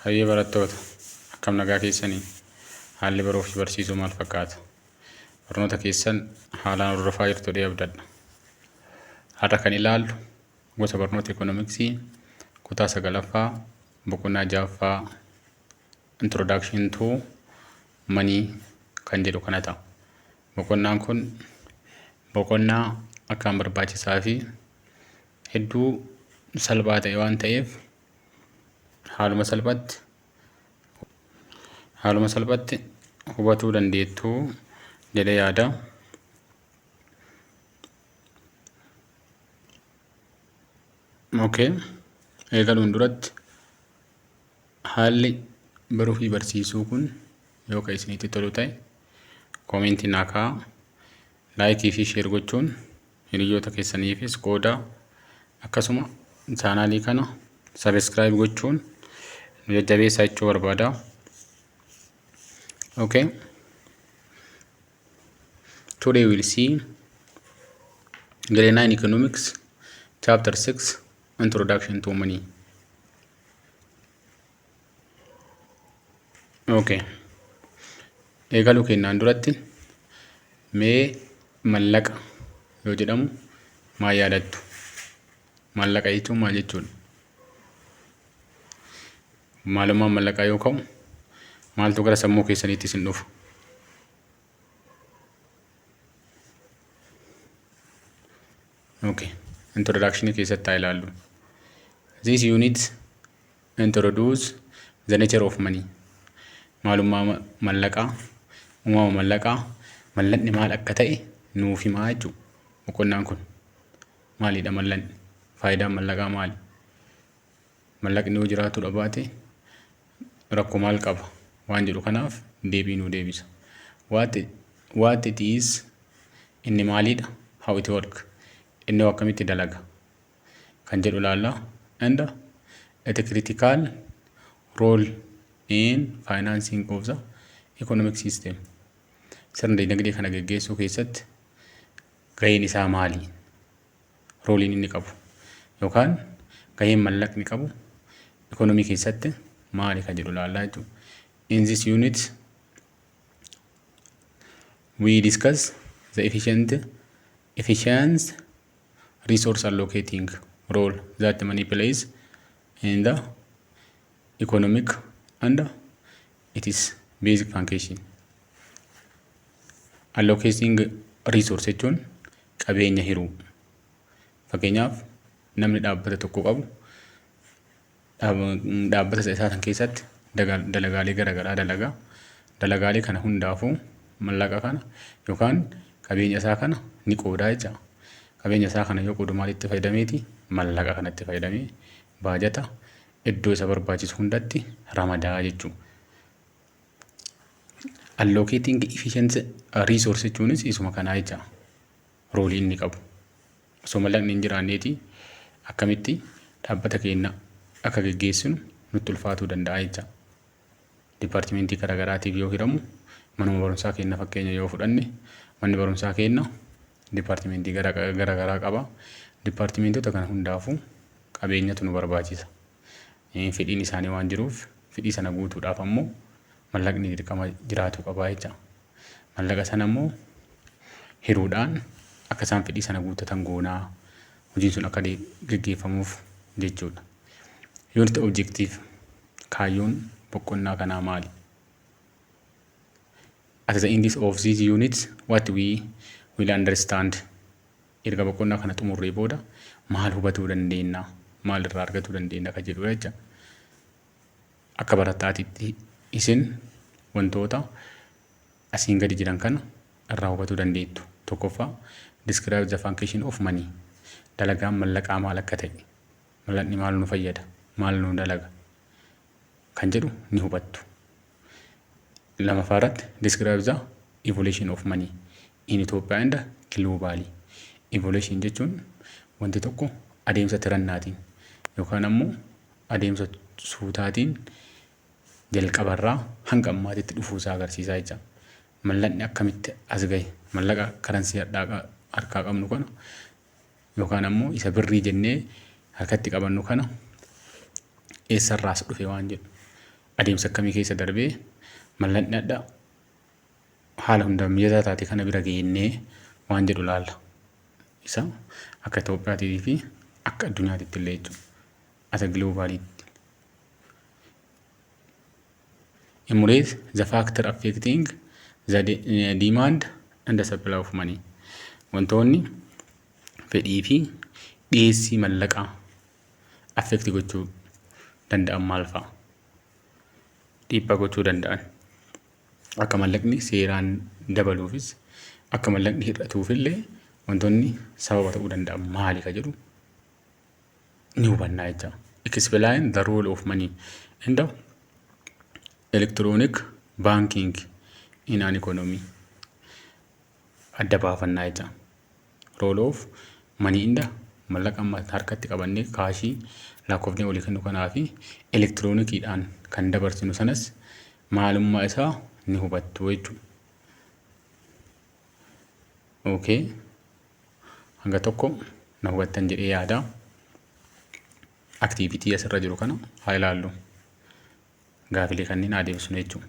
Hayyee barattoota, akkam nagaa keessanii? Haalli baruu fi barsiisuu maal fakkaata? Barnoota keessan haalaan hordofaa jirtu jedhee abdadha. Har'a kan ilaallu gosa barnoota ikoonomiksii kutaa sagalaffaa boqonnaa ja'affaa introduction to money kan jedhu kana ta'a. Boqonnaan kun boqonnaa akkaan barbaachisaa fi hedduu salphaa ta'e waan ta'eef haaluma salphatti haaluma salphatti hubatuu dandeettu jedhee yaada. Okay. Eegaluun duratti haalli baruu fi barsiisuu kun yoo kan isinitti tolu ta'e koomentii naa kaa'aa laayikii fi sheer gochuun Hiriyyoota keessaniifis qoodaa. Akkasuma chaanaalii kana sabiskiraayib gochuun nu jajjabeessaa jechuu barbaada. Okay. Today we'll see Grade 9 Economics, Chapter 6, Introduction to Money. Okay. Eegaluu kennaan duratti mee mallaqa yoo jedhamu maal yaadattu? Maallaqa jechuun maal jechuudha? Maalummaan mallaqaa yoo ka'u maaltu gara sammuu keessaniitti isin dhufu? Okay. Introduction keessatti haa ilaallu. This unit Introduce the nature of money. Maalummaa mallaqaa, uumama mallaqaa, mallaqni maal akka ta'e nuuf himaa jechuudha. Boqonnaan kun maalidha mallaqni? Faayidaan mallaqaa maali? Mallaqni yoo jiraatu dhabaate rakkoo maal qaba? Waan jedhu kanaaf deebii nuu deebisa. What, what it is, inni maalidha? How it work, inni akkamitti dalaga? kan jedhu ilaalla. And a critical role in financing of the economic system. Sirna dinagdee kana geggeessuu keessatti gaheen isaa maali? Rooliin inni qabu yookaan gaheen mallaqni qabu ekonomii keessatti maali kan jedhu ilaallaa jechuudha. In this unit we discuss the efficient efficient resource allocating role that money plays in the economic and its basic function. Allocating resource jechuun qabeenya hiruu. Fakkeenyaaf namni dhaabbata tokko qabu dhaabbata isa isaa san keessatti dalagaalee gara garaa dalaga. Dalagaalee kana hundaafuu mallaqa kana yookaan qabeenya isaa kana ni qoodaa jecha. Qabeenya isaa kana yoo qoodu maalitti fayyadameeti? Mallaqa kanatti fayyadamee baajata iddoo isa barbaachisu hundatti ramadaa jechuudha. Allocating efficient resource jechuunis isuma kanaa jecha. roolii inni qabu osoo mallaqni hin jiraanneeti akkamitti dhaabbata keenya akka geggeessinu nutti ulfaatuu danda'a jecha. Dipaartimentii garaagaraatiif yoo hiramu manuma barumsaa keenya fakkeenya yoo fudhanne manni barumsaa keenya dipaartimentii garaagaraa qaba. Dipaartimentota kana hundaafuu qabeenyatu nu barbaachisa. Fedhiin isaanii waan jiruuf fedhii sana guutuudhaaf ammoo mallaqni dirqama jiraachuu qabaa jecha. Mallaqa sana immoo hiruudhaan akka isaan fedhii sana guuttatan goonaa hojiin sun akka geggeeffamuuf jechuudha. Yoon itti objektiif kaayyoon boqonnaa kanaa maali? At the end of these units, what we will understand erga boqonnaa kana xumurree booda maal hubatuu dandeenya? Maal irraa argatuu dandeenya? Kan jedhudha jecha. Akka barattaatitti isin wantoota asiin gadi jiran kana irraa hubatuu dandeettu. Tokkoffaa, Describe the function of money. Dalagaan mallaqaa maal akka ta'e, mallaqni maal nu fayyada, maal nu dalaga kan jedhu ni hubattu. Lamaffaa irratti, Describe the evolution of money. in Ethiopia and globally evolution jechuun wanti tokko adeemsa tirannaatiin yookaan ammoo adeemsa suutaatiin jalqabarraa hanga ammaatitti dhufuusaa agarsiisaa jecha mallaqni akkamitti as gahe mallaqa karansii hadhaaqa harkaa qabnu kana yookaan ammoo isa birrii jennee harkatti qabannu kana eessarraas dhufe waan jedhu adeemsa akkamii keessa darbee mallaqni hadhaa haala hundaan mijataa taate kana bira geennee waan jedhu laalla. Isa akka Itoophiyaatii fi akka addunyaatitti illee jechuudha. As a globalitti. Emulate the factor affecting the de- eh, demand and the supply of money. Wantoonni fedhii fi dhiyeessii mallaqaa affect gochuu danda'an maal fa'a? Dhiibbaa gochuu danda'an. Akka mallaqni seeraan dabaluufis akka mallaqni hir'atuufillee wantoonni sababa ta'uu danda'an maali ka jedhu ni hubannaa jecha. Explain the role of money in the electronic banking in an economy. Adda baafannaa jecha roll off money inda mallaqa amma harkatti qabannee kaashii lakkoofnee walii kennu kanaa fi elektiroonikiidhaan kan dabarsinu sanas maalummaa isaa ni hubattu jechuudha. Okay. Hanga tokko na hubattan jedhee yaada. Aktiivitii asirra jiru kana haa ilaallu. gaafilee kanneen haa deebisnu jechuudha.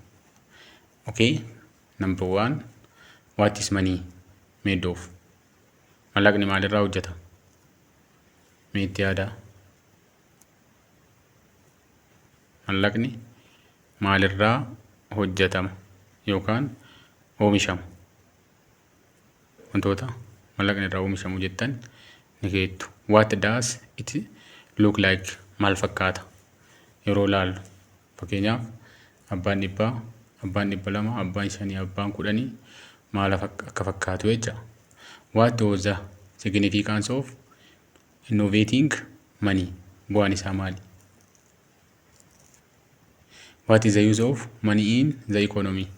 Okay, number one, what is money made of? Mallaqni maalirraa hojjeta? Mee itti yaadaa. Mallaqni maalirraa hojjetama yookaan oomishama? wantoota mallaqni irraa oomishamu jettan ni keettu. What does it look like? Maal fakkaata? Yeroo laallu fakkeenyaaf abbaan dhibbaa, abbaan dhibba lama, abbaan shanii, abbaan kudhanii maal akka fakkaatu jecha. What was the significance of innovating money? Bu'aan isaa maali? What is the use of money in the economy?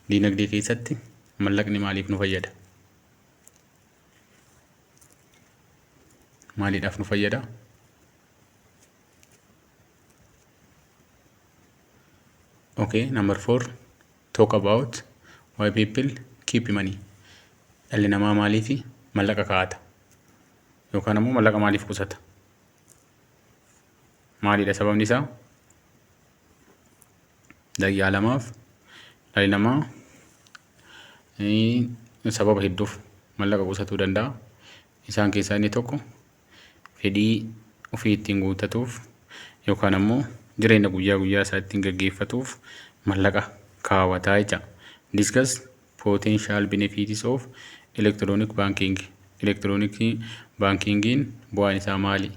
Diinagdee keessatti mallaqni maaliif nu fayyada? Maaliidhaaf nu fayyada? Okay, number four, talk about why people keep money. Dhalli namaa maaliif mallaqa kaa'ata? Yookaan ammoo mallaqa maaliif qusata? maalidha sababni isaa daqiiqaa lamaaf dhalli namaa sababa hedduuf mallaqa qusatuu danda'a. Isaan keessaa inni tokko fedhii ofii ittiin guuttatuuf yookaan ammoo jireenya guyyaa guyyaa isaa ittiin gaggeeffatuuf mallaqa kaawwataa jecha. Discuss potential benefits of electronic banking. Elektirooniksii baankiingiin bu'aan isaa maali?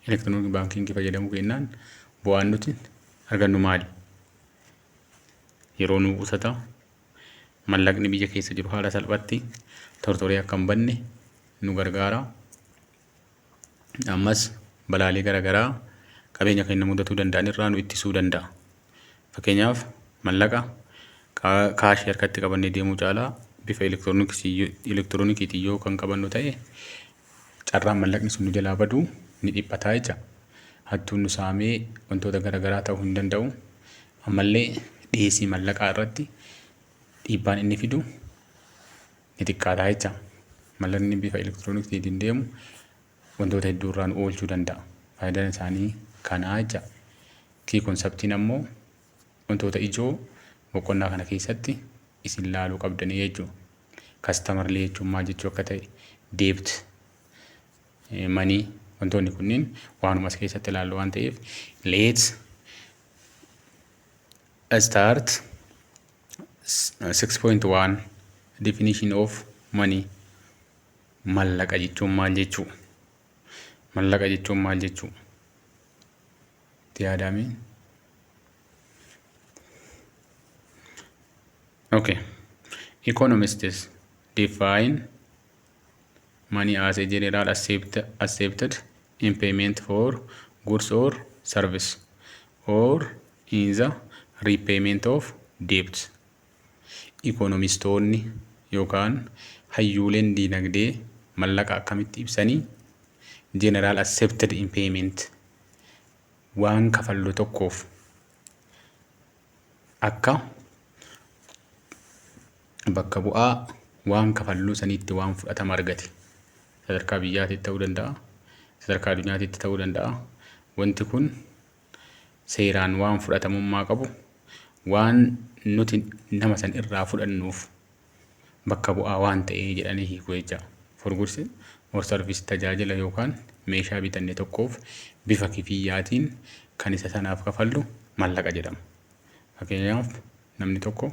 Elektirooniik baankiingii fayyadamuu keennaan bu'aan nuti argannu maali? Yeroo nuu qusata, mallaqni biyya keessa jiru haala salphatti tortoree akka hin banne nu gargaara. Ammas balaalee garaagaraa qabeenya keenya mudatuu danda'an irraa nu ittisuu danda'a. Fakkeenyaaf mallaqa kaashii harkatti qabannee deemuu caalaa bifa elektiroonikiitiin yoo kan qabannu ta'e carraan mallaqni sun nu jalaa badu ni dhiphata jecha. Hattuun nu saamee wantoota gara garaa ta'uu hin danda'u. Ammallee dhiyeessii mallaqaa irratti dhiibbaan inni fidu ni xiqqaata jecha. Mallaqni bifa elektirooniksiitiin deemu wantoota hedduu irraa nu oolchuu danda'a. Faayidaan isaanii kanaa jecha. Kii konseptiin ammoo wantoota ijoo boqonnaa kana keessatti isin laaluu qabdanii jechuudha. customer illee jechuun maal jechuu akka ta'e debt money wantoonni kunniin waanuma as keessatti ilaallu waan ta'eef let's start 6.1 definition of money mallaqa jechuun maal jechuu mallaqa jechuun maal jechuu itti yaadaamee Okay. Economists define money as a general accept, accepted in payment for goods or service or in the repayment of debt. Economistoonni yookaan hayyuuleen diinagdee mallaqa akkamitti ibsanii general accepted in payment waan kafallu tokkoof akka bakka bu'aa waan kafalluu saniitti waan fudhatama argate sadarkaa biyyaatitti ta'uu danda'a sadarkaa addunyaatitti ta'uu danda'a wanti kun seeraan waan fudhatamummaa qabu waan nuti nama san irraa fudhannuuf bakka bu'aa waan ta'ee jedhanii hiiku jecha. For goods or service tajaajila yookaan meeshaa bitanne tokkoof bifa kifiyyaatiin kan isa sanaaf kafallu mallaqa jedhama. Fakkeenyaaf namni tokko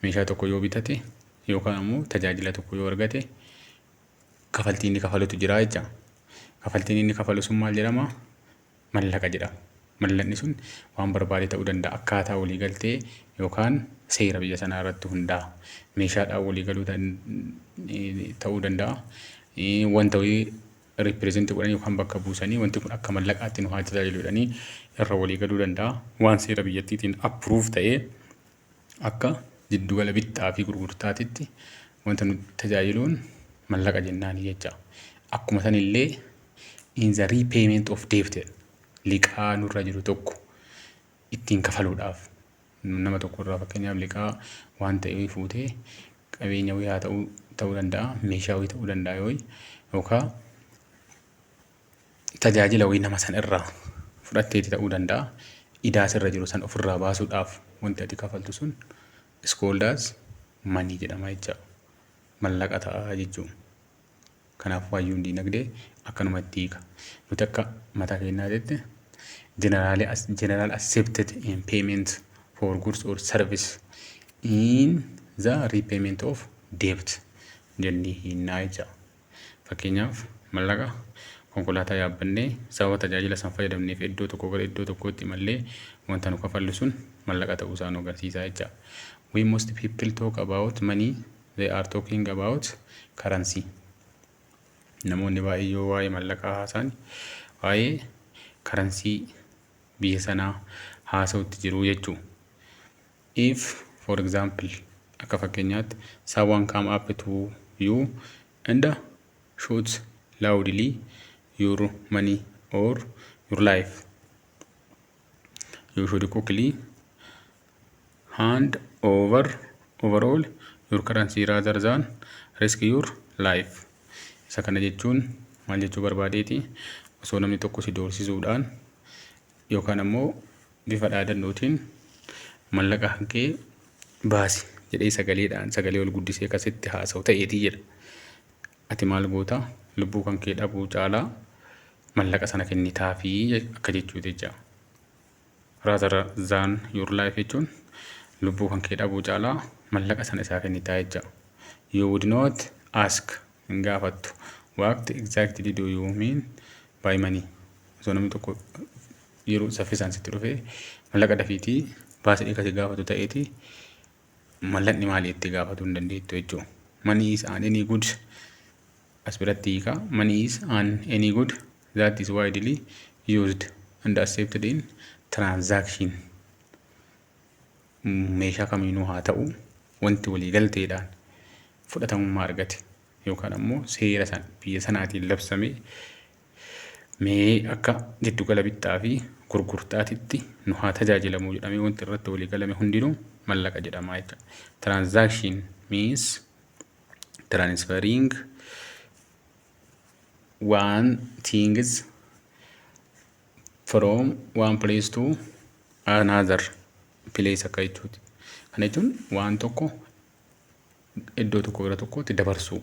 meeshaa tokko yoo bitate yookaan ammoo tajaajila tokko yoo argate kafaltii inni kafalutu jira jecha. Kafaltiin inni kafalu sun maal jedhama? mallaqa jedhama. Mallaqni sun waan barbaade ta'uu danda'a. Akkaataa walii galtee yookaan seera biyya sanaa irratti hundaa'a. Meeshaadhaan walii galuu ta'uu danda'a. Wanta wayii ripireezenti godhanii yookaan bakka buusanii wanti kun akka mallaqaatti nu haa tajaajilu jedhanii irra walii galuu danda'a. Waan seera biyyattiitiin appiruuf ta'ee Akka jiddugala bittaa fi gurgurtaatitti wanta nu tajaajiluun mallaqa jennaani jecha. Akkuma san illee in the repayment of debt jedha. Liqaa nurra jiru tokko ittiin kafaluudhaaf nama tokko irraa fakkeenyaaf liqaa waan ta'e wayii fuutee qabeenya wayii haa ta'uu ta'uu danda'a meeshaa wayii ta'uu danda'a yoo yookaan tajaajila wayii nama san irraa fudhatteeti ta'uu danda'a. Idaa sirra jiru san ofirraa baasuudhaaf wanti ati kafaltu sun iskooldaas manii jedhama jecha mallaqa ta'a jechuun. Kanaafuu hayyuun diinagdee akkanumatti hiika. Nuti akka mataa keenyaa jette generally as general accepted in payment for goods or service in the repayment of debt jennee hinnaa jecha. Fakkeenyaaf, mallaqa konkolaataa yaabbannee sababa tajaajila san fayyadamneef iddoo tokkoo gara iddoo tokkootti imallee wanta nu kafallu sun mallaqa ta'uu isaa nu agarsiisa jecha. We most people talk about money, they are talking about currency. Namoonni baay'ee yoo waa'ee mallaqaa haasaan waa'ee karansii biyya sanaa haasa'utti jiru jechuu. If, for example, akka fakkeenyaatti, someone come up to you and shouts loudly your money or your life. You should quickly hand over overall your currency rather than risk your life. Isa kana jechuun maal jechuu barbaadeeti? Osoo namni tokko si doorsisuudhaan yookaan ammoo bifa dhaadannootiin mallaqa hanqee baasi jedhee sagaleedhaan sagalee ol guddisee kan sitti haasa'u ta'eetii jedha. Ati maal goota? Lubbuu kan kee dhabuu caalaa mallaqa sana kennitaafii je- akka jechuuti jecha. Rather than your life jechuun lubbuu kan kee dhabuu caalaa mallaqa sana isaa kennitaa jecha. You would not ask hin gaafattu. What exactly do you mean by money? Osoo namni tokko yeroo saffisaan sitti dhufe mallaqa dafiiti baasa dhiiga si gaafatu ta'eeti mallaqni maali itti gaafatu hin dandeettu jechuudha. Money is an any good as biratti hiika. Money is an any good that is widely used and accepted in transaction. Meeshaa kamiinuu haa ta'u wanti walii galteedhaan fudhatamummaa argate yookaan ammoo seera san biyya sanaatiin labsamee Mee akka giddugala bittaa fi gurgurtaatitti nu haa tajaajilamuu jedhamee wanti irratti walii galame hundinuu mallaqa jedhama jecha. Transaction means transferring one things from one place to another place akka jechuuti. Kana jechuun waan tokko iddoo tokko gara tokkootti dabarsuu.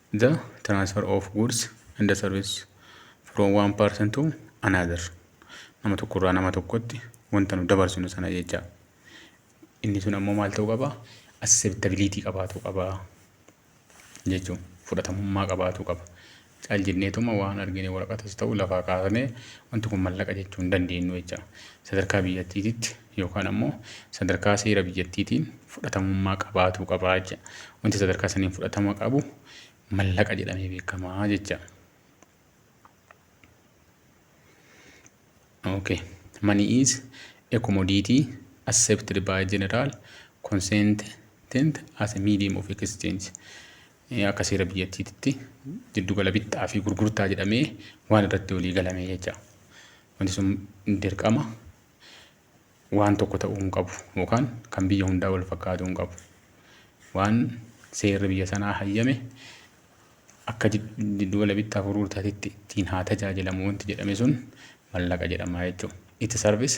The transfer of goods and service from one person to another. Nama tokko irraa nama tokkotti wanta nu dabarsinu sana jecha. Inni sun ammoo maal ta'uu qaba? Acceptability qabaatu qaba jechuun fudhatamummaa qabaatu qaba. Cal jenneetuma waan argine waraqatas ta'u lafaa kaasnee wanti kun mallaqa jechuu hin dandeenyu jecha. Sadarkaa biyyattiititti yookaan ammoo sadarkaa seera biyyattiitiin fudhatamummaa qabaatuu qaba jecha. Wanti sadarkaa saniin fudhatama qabu mallaqa jedhamee beekama jecha. Okay. Money is a commodity accepted by general consentant as a medium of exchange. Akka seera biyyattiitti jiddugala bittaa fi gurgurtaa jedhamee waan irratti walii galame jecha. Wanti sun dirqama waan tokko ta'uu hin qabu yookaan kan biyya hundaa wal fakkaatuu hin qabu. Waan seerri biyya sanaa hayyame akka jiddugala bittaa gurgurtaatitti ittiin haa tajaajilamu wanti jedhame sun mallaqa jedhama jechuudha. It serves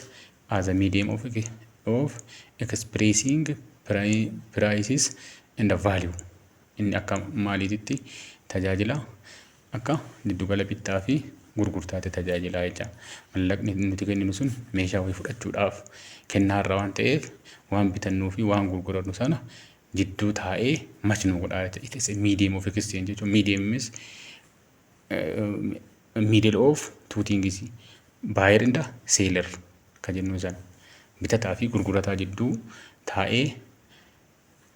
as a medium of, of expressing prices and value. Inni akka maaliititti tajaajila akka giddugala bittaa fi gurgurtaatti tajaajilaa jecha. Mallaqni nuti kenninu sun meeshaa wayii fudhachuudhaaf kennaa irra waan ta'eef waan bitannuu fi waan gurgurannu sana jidduu taa'ee mach nu godhaa jecha. It is a medium of exchange jechuun medium means uh, middle of two things buyer and seller ka jennu sana bitataa fi gurgurataa jidduu taa'ee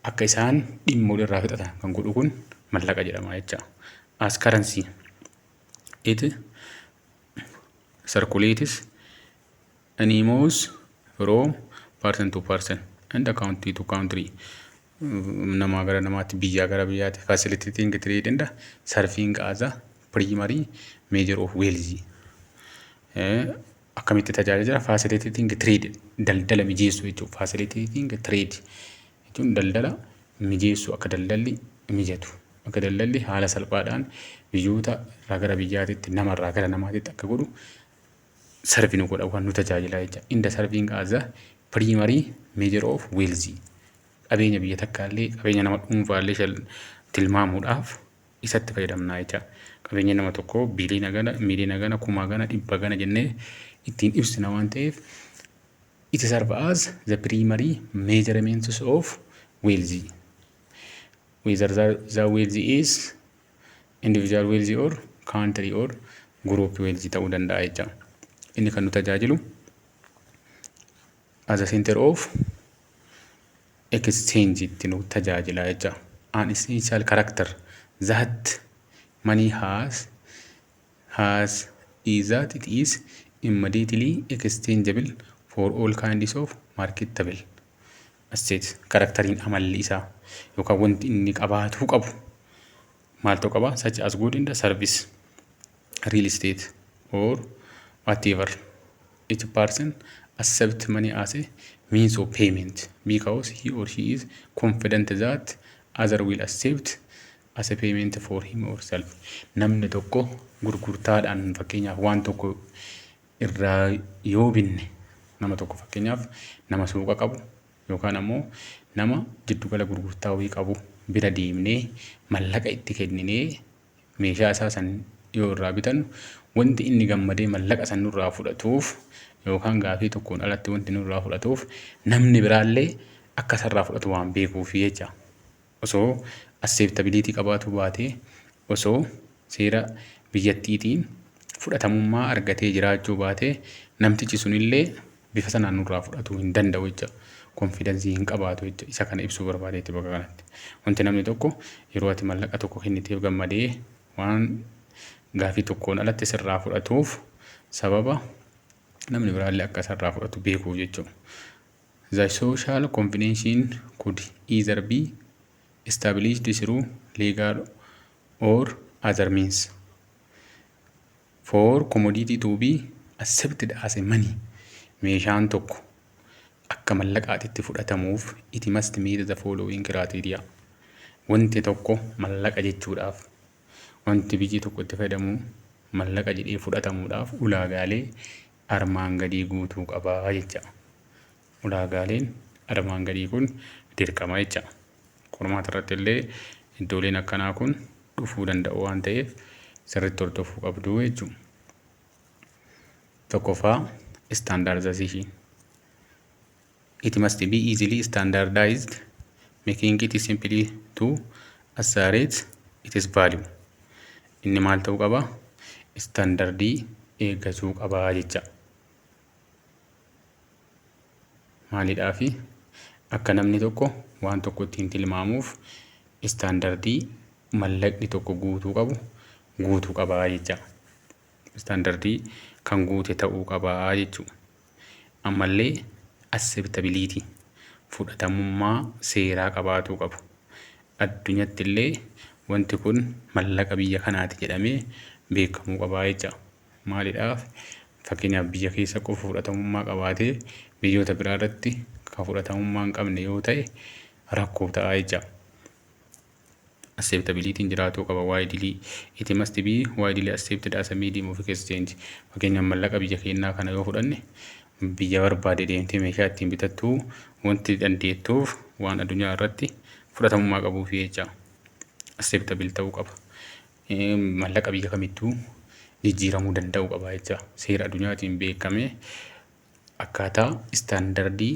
akka isaan dhimma walirraa fixatan kan godhu kun mallaqa jedhama jecha as currency it circulates animals from person to person and country to country namaa gara namaatti biyyaa gara biyyaatti facilitating trade and serving as a primary measure of wealth akkamitti tajaajila facilitating trade daldala mijeessuu jechuudha. Facilitating trade jechuun daldala mijeessuu akka daldalli mijatu akka daldalli haala salphaadhaan biyyoota irraa gara biyyaatitti nama irraa gara namaatitti akka godhu sarvi nu godha waan nu tajaajila jecha inda sarviing as a primary measure of wealthy qabeenya biyya takkaallee qabeenya nama dhuunfaallee tilmaamuudhaaf isatti fayyadamna jecha. Qabeenya nama tokkoo biliina gana, miliina gana, kumaa gana, dhibba gana jennee ittiin ibsina waan ta'eef it serve as the primary measurements of wealthy. Whether the, the wealthy is individual wealthy or country or group wealthy ta'uu danda'a jecha. Inni kan nu tajaajilu As a center of exchange itti nu tajaajila jecha. An essential character that money has has is that it is immediately exchangeable for all kinds of marketable assets. Karaktariin amalli isaa yookaan wanti inni qabaatuu qabu maal ta'u qaba such as good in the service real estate or whatever each person accept money as a means of payment because he or she is confident that other will accept as a payment for him or self namni tokko gurgurtaadhaan fakkeenyaaf waan tokko irraa yoo binne nama tokko fakkeenyaaf nama suuqa qabu yookaan ammoo nama jiddu gala gurgurtaa wayii qabu bira deemnee mallaqa itti kenninee meeshaa isaa san yoo irraa bitannu wanti inni gammadee mallaqa san nurraa fudhatuuf yookaan gaafii tokkoon alatti wanti nurraa fudhatuuf namni biraallee akka isarraa fudhatu waan beekuuf jecha. osoo asseeptabiliitii qabaatuu baatee osoo seera biyyattiitiin fudhatamummaa argatee jiraachuu baatee namtichi sunillee bifa sanaan nurraa fudhatuu hin danda'u jecha konfidansii hin qabaatu jecha isa kana ibsuu barbaade jecha bakka kanatti wanti namni tokko yeroo ati mallaqa tokko kenniteef gammadee waan gaafii tokkoon alatti sirraa fudhatuuf sababa namni biraallee akka isarraa fudhatu beekuuf jechuudha. The social convention could either be established through legal or other means for commodity to be accepted as a money. Meeshaan tokko akka mallaqaatitti fudhatamuuf it must meet the following criteria. Wanti tokko mallaqa jechuudhaaf wanti biyyi tokko itti fayyadamu mallaqa jedhee fudhatamuudhaaf ulaagaalee armaan gadii guutuu qaba jecha. Ulaagaaleen armaan gadii kun dirqama jecha. Qormaata irratti illee iddooleen akkanaa kun dhufuu danda'u waan ta'eef sirriitti hordofuu qabdu jechuudha. Tokkoffaa istaandaardizasiishiin. It must be easily standardized, making it simply to asserate its value. Inni maal ta'uu qaba? Istaandardii eeggachuu qaba jecha. Maalidhaafi? Akka namni tokko waan tokko ittiin tilmaamuuf istaandardii mallaqni tokko guutuu qabu guutuu qaba jecha. Istaandardii kan guute ta'uu qaba jechuudha. Ammallee acceptability, fudhatamummaa seeraa qabaatuu qabu. Addunyattillee wanti kun mallaqa biyya kanaati jedhamee beekamuu qabaa jecha. Maalidhaaf fakkeenyaaf biyya keessa qofa fudhatamummaa qabaatee biyyoota biraa irratti kan fudhatamummaa hin qabne yoo ta'e rakkoo ta'a jecha. acceptability jiraatuu qaba widely it must be widely accepted as a medium of exchange fakkeenyaaf mallaqa biyya keenyaa kana yoo fudhanne biyya barbaade deemtee meeshaa ittiin bitattuu wanti dandeettuuf waan addunyaa irratti fudhatamummaa qabuuf jecha acceptable ta'uu qaba mallaqa biyya kamittuu jijjiiramuu danda'uu qaba jecha seera addunyaatiin beekamee akkaataa istaandardii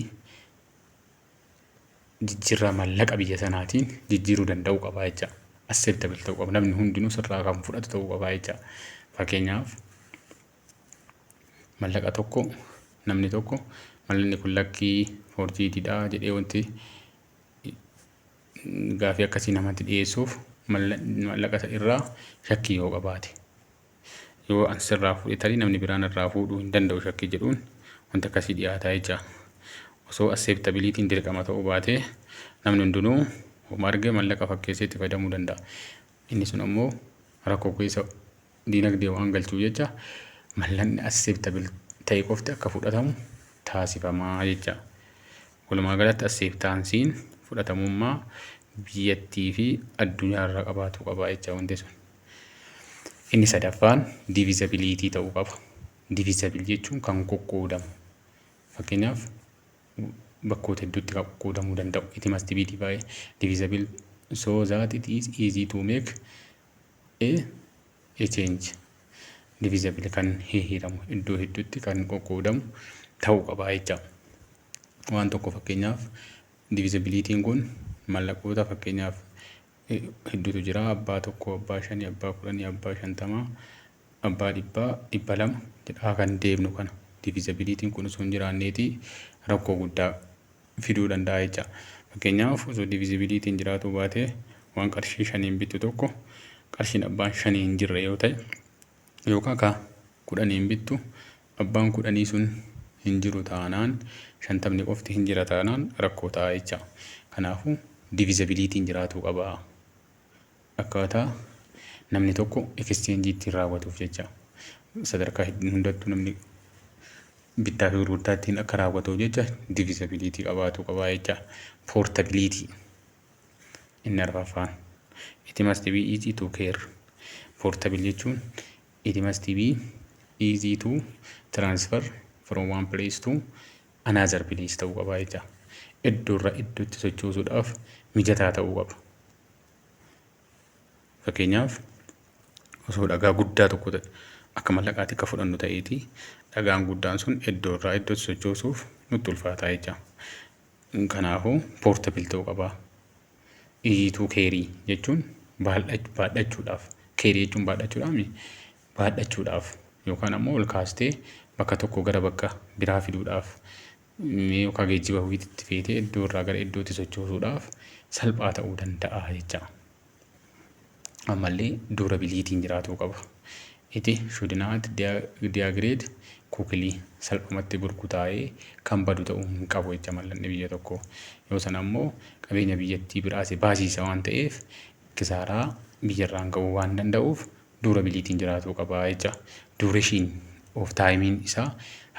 jijjiirraa maallaqa biyya sanaatiin jijjiiruu danda'uu qabaa jecha acceptable ta'uu qaba namni hundinuu sirraa kan fudhatu ta'uu qabaa jecha fakkeenyaaf maallaqa tokko namni tokko mallaqni kun lakkii forjiididha jedhee wanti gaafii akkasii namatti dhiyeessuuf maallaqa irraa shakkii yoo qabaate Yoo an sirraa fuudhe tarii namni biraa narraa fuudhuu hin danda'u shakkii jedhuun wanti akkasii dhiyaataa jecha. Osoo asseeptabiliitiin dirqama ta'uu baatee namni hundinuu homa arge mallaqa fakkeessee itti fayyadamuu danda'a. Inni sun ammoo rakkoo keessa diinagdee waan galchuuf jecha mallaqni asseeptabil ta'e qofti akka fudhatamu taasifamaa jecha. Walumaa galatti asseeptaansiin fudhatamummaa biyyattii fi addunyaa irraa qabaatu qaba jecha wanti sun. Inni sadaffaan divizabiliitii ta'uu qaba. Divizabil jechuun kan qoqqoodamu. Fakkeenyaaf bakkoota hedduutti kan qoqqoodamuu danda'u. It must be divided divisible so that it is easy to make a, a change. Divisible kan hihiramu iddoo hedduutti kan qoqqoodamu ta'uu qaba jecha. Waan tokko fakkeenyaaf divisibiliitiin kun mallaqoota fakkeenyaaf hedduutu jira. Abbaa tokkoo, abbaa shanii, abbaa kudhanii, abbaa shantamaa, abbaa dhibbaa, dhibba lama jedhaa kan deemnu kana divizabiliitiin kun osoo hin jiraanneeti rakkoo guddaa fiduu danda'a jecha. Fakkeenyaaf osoo divizabiliitiin jiraatuu baatee waan qarshii shaniin bittu tokko qarshiin abbaan shanii hin jirre yoo ta'e yookaan ka kudhaniin bittu Abbaan kudhanii sun hin jiru taanaan, shantamni qofti hin jira taanaan rakkoo ta'a jecha. Kanaafuu divizabiliitiin jiraatuu qaba. Akkaataa namni tokko ekscheenjii ittiin raawwatuuf jecha. Sadarkaa hundattuu namni bittaa fi gurgurtaa ittiin akka raawwatuuf jecha divizabiliitii qabaatuu qaba jecha. Poortabiliitii inni arfaffaan. It must be easy to care. Portable jechuun It must be easy to transfer from one place to another place ta'uu qaba jecha. Iddoorra iddootti sochoosuudhaaf mijataa ta'uu qaba. Fakkeenyaaf osoo dhagaa guddaa tokko ta'e akka mallaqaatti akka fudhannu ta'eeti dhagaan guddaan sun iddoorraa iddootti sochoosuuf nutti ulfaataa jecha. Kanaafuu portable ta'uu qaba. iyiituu keerii jechuun baadhachuudhaaf keerii jechuun baadhachuudhaami baadhachuudhaaf yookaan ammoo ol kaastee bakka tokko gara bakka biraa fiduudhaaf mee yookaan geejjiba ho'iitti feetee iddoo irraa gara iddootti sochoosuudhaaf salphaa ta'uu danda'a jecha. ammallee durabiliitiin jiraatuu qaba. Iti shudinaat diyaagreed kuukilii salphumatti burkutaa'ee kan badu ta'uu hin qabu jecha mallanni biyya tokko. Yoo sana ammoo qabeenya biyyattii biraase baasiisa waan ta'eef kisaaraa biyyarraan ga'uu waan danda'uuf duurabiliitiin jiraatuu qaba jecha. Duureshiin of taayimiin isaa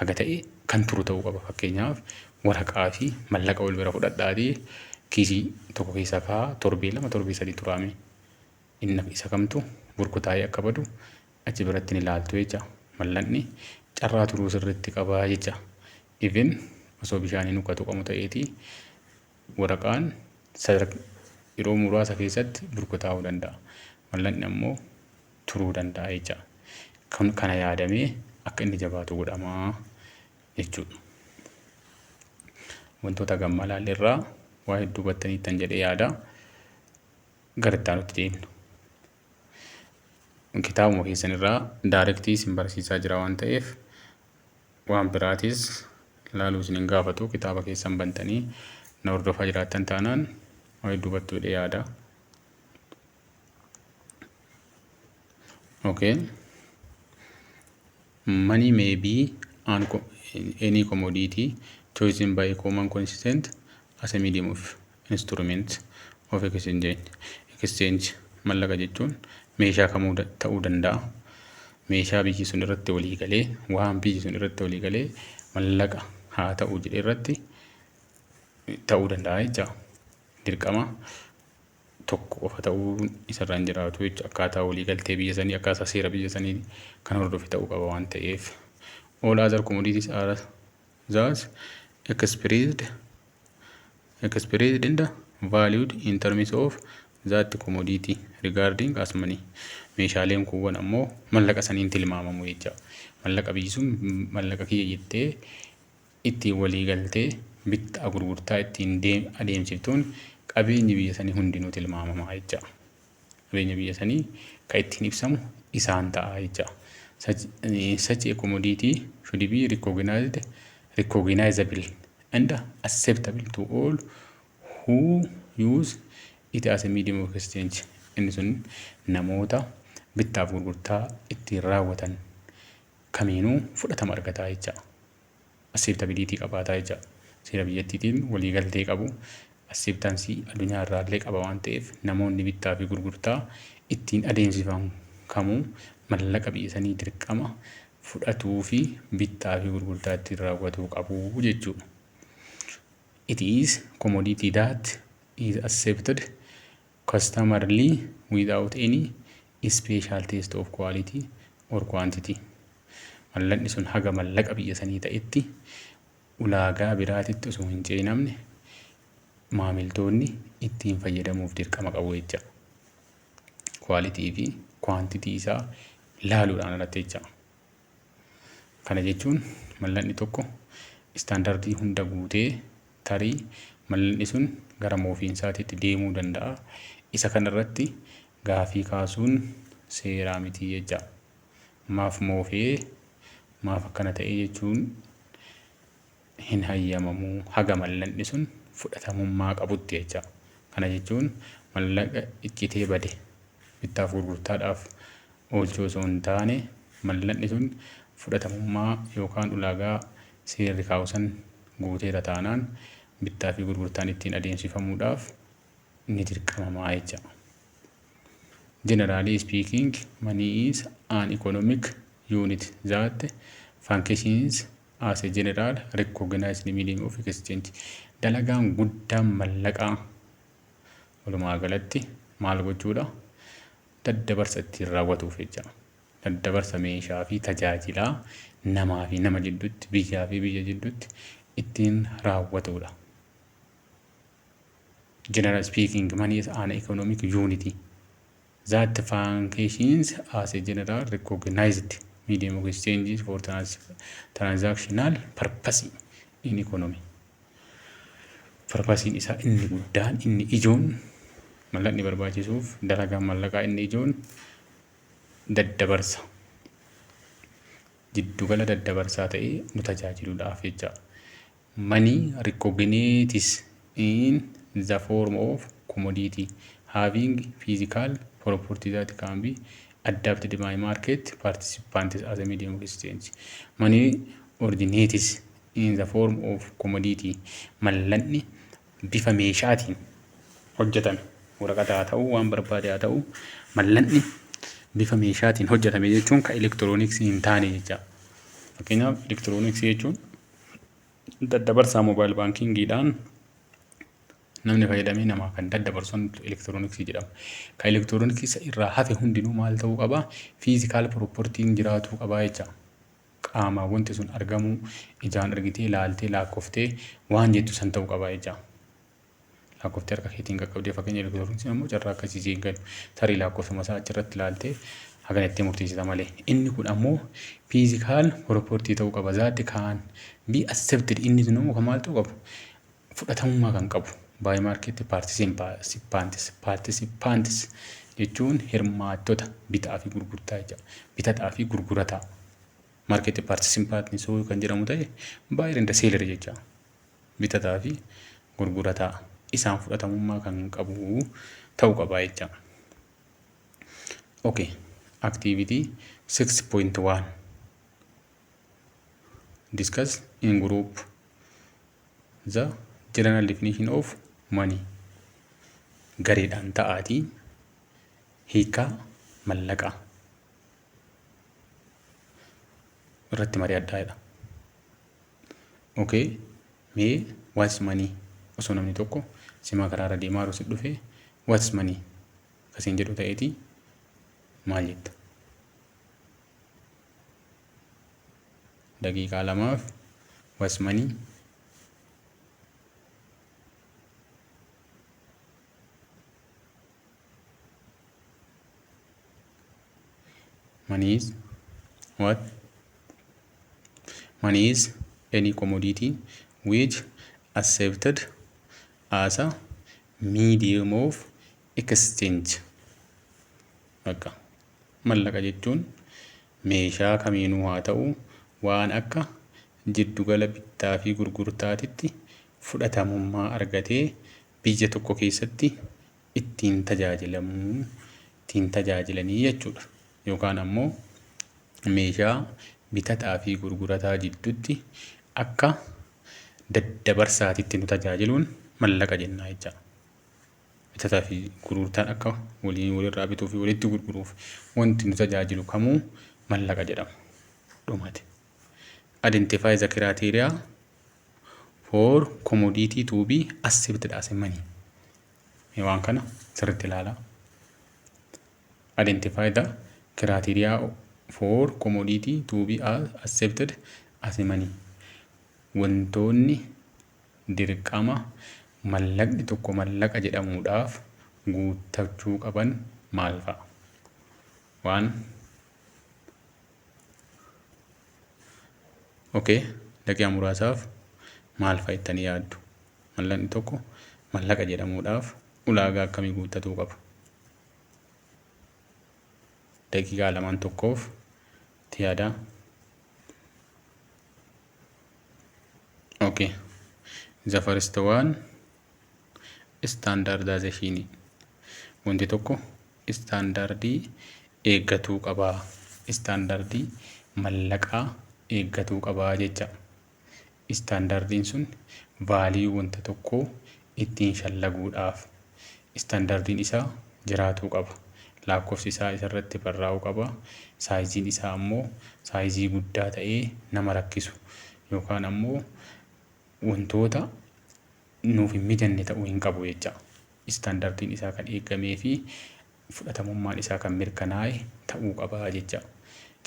haga ta'e kan turu ta'uu qaba. Fakkeenyaaf waraqaa fi mallaqa wal bira fudhadhaatii kiisii tokko keessa kaa torbee lama torbee sadii turaame inni isa kamtu burkutaa'ee akka badu achi biratti ni laaltu jecha. Mallaqni carraa turuu sirriitti qaba jecha. Even osoo bishaaniin uka tuqamu ta'eeti Waraqaan sadark yeroo muraasa keessatti burkutaa'uu danda'a. Mallaqni ammoo turuu danda'a jecha kun kana yaadamee akka inni jabaatu godhama jechuudha. Wantoota gammaa ilaalle irraa waa hedduu hubattaniittan jedhee yaada. Gara itti aanutti deemna. kitaabuma keessan irraa daarektii isin barsiisaa jira waan ta'eef waan biraatis ilaaluu isin hin gaafatu kitaaba keessan bantanii na hordofaa jiraattan taanaan waa'ee duubattuu hidhee yaada. Okay. Money may be an, any commodity chosen by a common constituent as a medium of instrument of exchange, exchange, mallaqa jechuun meeshaa kamuu da- ta'uu danda'a. Meeshaa biyyi sun irratti walii galee, waan biyyi sun irratti walii galee mallaqa haa ta'u jedhe irratti ta'uu danda'a jecha. Dirqama tokko qofa ta'uun isarra hin jiraatu jecha. Akkaataa walii galtee biyya sanii, akkaataa seera biyya sanii kan hordofe ta'uu qaba waan ta'eef. All other commodities are thus expressed expressed and valued in terms of that commodity regarding as money meeshaaleen kuuwwan ammoo mallaqa saniin tilmaamamu jecha mallaqa biyyi sun mallaqa kiyya jettee ittiin walii galtee bittaa gurgurtaa ittiin deem adeemsiftuun qabeenyi biyya sanii hundinuu tilmaamamaa jecha qabeenya biyya sanii ka ittiin ibsamu isaan ta'a jecha. Such, such a commodity should be recognized, recognizable and acceptable to all who use it as a medium of exchange. Inni sun namoota bittaaf gurgurtaa ittiin raawwatan kamiinuu fudhatama argata jecha. Asseeptabiliitii qabaata jecha. Seera biyyattiitiin waliigaltee qabu. Asseeptaansii addunyaa irraa illee qaba waan ta'eef namoonni bittaa fi gurgurtaa ittiin adeemsifamu kamuu mallaqa biyya sanii dirqama fudhatuu fi bittaa fi gurgurtaa ittiin raawwatuu qabu jechuu dha. It is commodity that is accepted customarily without any special test of quality or quantity, mallaqni sun haga mallaqa biyya sanii ta'etti ulaagaa biraatitti osoo hin ceenamne maamiltoonni ittiin fayyadamuuf dirqama qabu jecha. Quality fi quantity isaa laaluudhaan alatti jecha. Kana jechuun mallanni tokko istaandardii hunda guutee tarii mallanni sun gara moofiinsaatiitti deemuu danda'a. Isa kanarratti gaafii kaasuun seeraa miti jecha. Maaf moofee maaf akkana ta'ee jechuun hin hayyamamu haga mallaqni sun fudhatamummaa qabutti jecha. Kana jechuun mallaqa iccitee bade bittaaf gurgurtaadhaaf oolchuu osoo hin taane mallaqni sun fudhatamummaa yookaan ulaagaa seerri kaa'u san guuteera taanaan bittaa fi gurgurtaan ittiin adeemsifamuudhaaf ni dirqamamaa jecha. Generally speaking, money is an economic unit that functions as a general recognized medium of exchange dalagaan guddaan mallaqaa walumaa galatti maal gochuudha daddabarsa ittiin raawwatuuf jecha daddabarsa meeshaa fi tajaajilaa namaa fi nama jidduutti biyyaa fi biyya jidduutti ittiin raawwatuudha. General speaking money is an economic unity. That functions as a general recognized medium of exchange for trans transactional purpose in economy. Purpose isaa inni guddaan inni ijoon mallaqni barbaachisuuf dalagaan mallaqaa inni ijoon daddabarsa jiddugala daddabarsaa ta'ee nu tajaajiluudhaaf jecha Money recognites in the form of commodity having physical property that can be adapted by market participants as a medium of exchange. Money originates in the form of commodity. Mallanni bifa meeshaatiin hojjetame waraqata haa ta'u waan barbaade haa ta'u mallanni bifa meeshaatiin hojjetame jechuun kan elektirooniksii hin taane jecha. Fakkeenyaaf elektirooniksii jechuun daddabarsaa moobaayil baankiingiidhaan namni fayyadamee namaa kan daddabarsu elektirooniksii jedhama. Kan elektirooniksii isa irraa hafe hundinuu maal ta'uu qaba? Fiizikaal piroopportiin jiraatuu qabaa jecha. Qaamaan wanti sun argamuu ijaan argitee laaltee laakkoftee waan jettu san ta'uu qabaa jecha. Laakkoftee harka keetiin qaqqabdee fakkeenya elektirooniin sun immoo carraa akkasii si eeggatu. Tarii laakkofsuma isaa achirratti ilaaltee hagana itti murteessita malee. Inni kun ammoo fiizikaal piroportii ta'uu qaba. Zaatti kaan bi accepted inni sun immoo kan maal ta'uu qabu? Fudhatamummaa kan qabu. Baay maarkeetti paartisipaantis paartisipaantis jechuun hirmaattota bitaa fi gurgurtaa jecha bitataa fi gurgurataa. Maarkeetti paartisipaantis kan jedhamu ta'e baay'ee danda seelari jecha. bitataa fi gurgurataa isaan fudhatamummaa kan qabu ta'u qaba jecha. Okay. Activity 6.1 Discuss in group the general definition of money gareedhaan ta'aatii hiikaa mallaqaa irratti mari'adhaa jedha. Ok mee what's money osoo namni tokko simaa karaarra deemaa yeroo si dhufe what's money kasiin jedhu ta'eeti maal jetta? Daqiiqaa lamaaf what's money money is what money is any commodity which accepted as a medium of exchange bakka mallaqa jechuun meeshaa kamiinuu haa ta'u waan akka jiddugala bittaa fi gurgurtaatitti fudhatamummaa argatee biyya tokko keessatti ittiin tajaajilamuu, ittiin tajaajilanii jechuudha. Yookaan ammoo meeshaa bitataa fi gurgurataa jidduutti akka daddabarsaatitti nu tajaajiluun mallaqa jennaa jecha. Bitataa fi gurgurtaan akka waliin walirraa bituu fi walitti gurguruuf wanti nu tajaajilu kamuu mallaqa jedhama. Dhumate. Identify the criteria for commodity to be accepted as a money. Mee waan kana sirriitti ilaala. Identify the criteria for commodity to be accepted as money. Wantoonni dirqama mallaqni tokko mallaqa jedhamuudhaaf guuttachuu qaban maal fa'a? Waan okay, daqiiqaa muraasaaf maal fa'a jettanii yaaddu? Mallaqni tokko mallaqa jedhamuudhaaf ulaagaa akkamii guuttatuu qaba? Daqiiqaa lamaan tokkoof itti yaadaa. Okay. The first one standardization. Wanti tokko istaandardii eeggatuu qaba. Istaandardii mallaqaa eeggatuu qaba jecha. Istaandardiin sun value wanta tokkoo ittiin shallaguudhaaf istaandardiin isaa jiraatuu qaba. Laakkofsi isaa isa irratti barraa'uu qaba. Saayiziin isaa ammoo saayizii guddaa ta'ee nama rakkisu yookaan ammoo wantoota nuuf hin mijanne ta'uu hin qabu jecha. Istaandardiin isaa kan eeggamee fi fudhatamummaan isaa kan mirkanaa'e ta'uu qaba jecha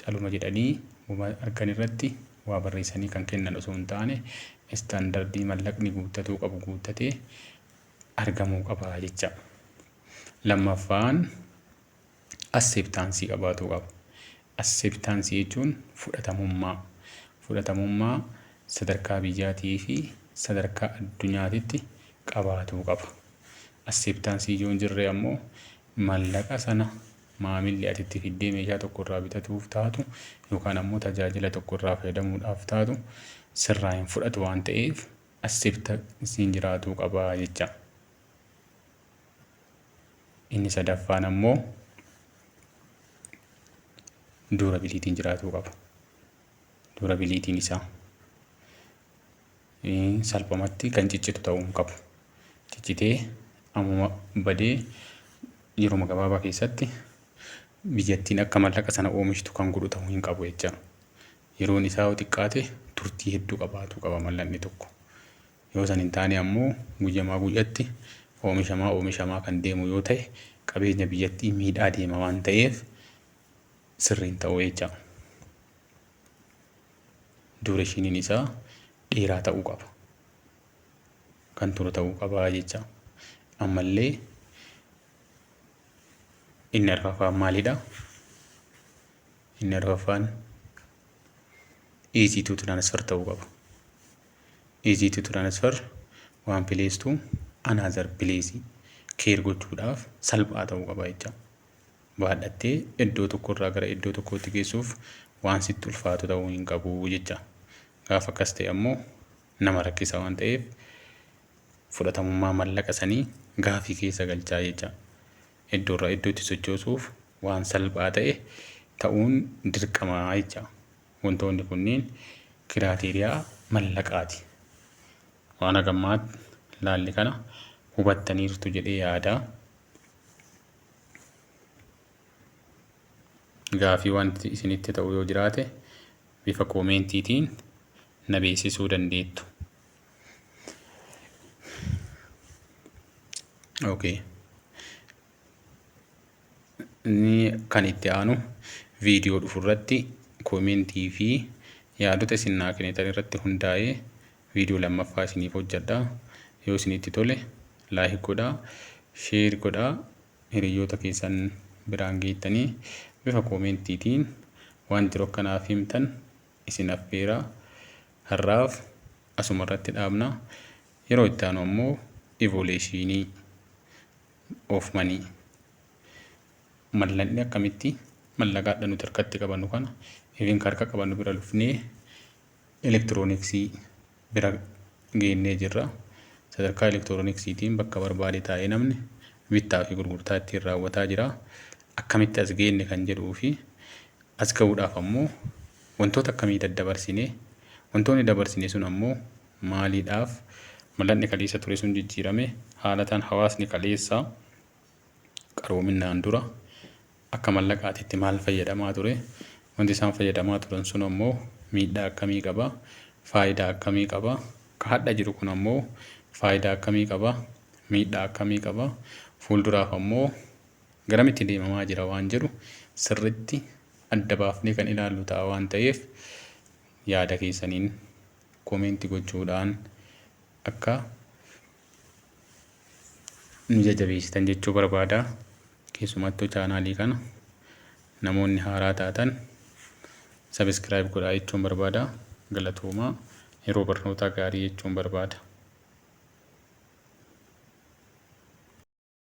caluma jedhanii woma argan irratti waa barreessanii kan kennan osoo hin taane istaandardii mallaqni guuttatuu qabu guuttatee argamuu qaba jecha. Lammaffaan asseeptaansii qabaatuu qaba. Asseeptaansii jechuun fudhatamummaa. Fudhatamummaa sadarkaa biyyaatii fi sadarkaa addunyaatitti qabaatuu qaba. Acceptance ijoo hin jirre ammoo mallaqa sana maamilli ati itti fiddee meeshaa tokko irraa bitatuuf taatu yookaan ammoo tajaajila tokko irraa fayyadamuudhaaf taatu sirraa hin fudhatu waan ta'eef acceptance hin jiraatuu qaba jecha. Inni sadaffaan ammoo durabiliitiin jiraatuu qaba. Durabiliitiin isaa. salphumatti kan ciccitu ta'uu hin qabu. Ciccitee ammuma badee yeruma gabaabaa keessatti biyyattiin akka mallaqa sana oomishtu kan godhu ta'uu hin qabu jecha. Yeroon isaa yoo xiqqaate turtii hedduu qabaatu qaba mallaqni tokko. Yoo san hin taane ammoo guyyamaa guyyatti oomishamaa oomishamaa kan deemu yoo ta'e qabeenya biyyattii miidhaa deema waan ta'eef sirriin ta'uu jecha. duureeshiniin isaa dheeraa ta'uu qaba. Kan turu ta'uu qaba jecha. Ammallee inni arfaffaan maalidha? Inni arfaffaan easy to transfer ta'uu qaba. Easy to transfer waan place to another place keer gochuudhaaf salphaa ta'uu qaba jecha. baadhattee iddoo tokko irraa gara iddoo tokkootti geessuuf waan sitti ulfaatu ta'uu hin qabu jecha. Gaafa akkas ta'e ammoo nama rakkisa waan ta'eef fudhatamummaa mallaqa sanii gaafii keessa galchaa jecha. Iddoo irraa iddootti sochoosuuf waan salphaa ta'e ta'uun dirqamaa jecha. Wantoonni kunniin kiraateeriyaa mallaqaati. Waan hagammaatti laalli kana hubattaniirtu jedhee yaadaa. gaafii wanti isinitti ta'u yoo jiraate bifa koomeentiitiin na beeksisuu dandeettu. Okay. Inni kan itti aanu viidiyoo dhufu irratti koomentii fi yaadota isin naa kennitan irratti hundaa'ee Video lammaffaa isiniif hojjadha. Yoo isinitti tole like godhaa, share godhaa, hiriyyoota keessan biraan geettanii bifa koomentiitiin waan jiru akka naaf himtan isin affeera. Har'aaf asuma irratti dhaabna. Yeroo itti aanu ammoo ivoleeshiinii oofmanii mallanni akkamitti mallaqaadha nuti harkatti qabannu kana even harka qabannu bira dhufnee elektirooniksii bira geennee jirra. Sadarkaa elektirooniksiitiin bakka barbaade taa'ee namni bittaa fi gurgurtaa ittiin raawwataa jira. Akkamitti as geenne kan jedhuu fi as ga'uudhaaf ammoo wantoota akkamii daddabarsine, wantoonni dabarsine sun ammoo maaliidhaaf mallatni kaleessa ture sun jijjiirame, haalataan hawaasni kaleessaa qaroominaan dura akka mallaqaatitti maal fayyadamaa ture? Wanti isaan fayyadamaa turan sun ammoo miidhaa akkamii qaba? Faayidaa akkamii qaba? Ka hadha jiru kun ammoo faayidaa akkamii qaba? Miidhaa akkamii qaba? Fuulduraaf ammoo garamitti deemamaa jira waan jedhu sirritti adda baafnee kan ilaallu ta'a waan ta'eef yaada keessaniin komeenti gochuudhaan akka nu jajabeessitan jechuu barbaada. Keessumattuu chaanaalii kana namoonni haaraa taatan sabiskiraayib godhaa jechuun barbaada. Galatoomaa yeroo barnootaa gaarii jechuun barbaada.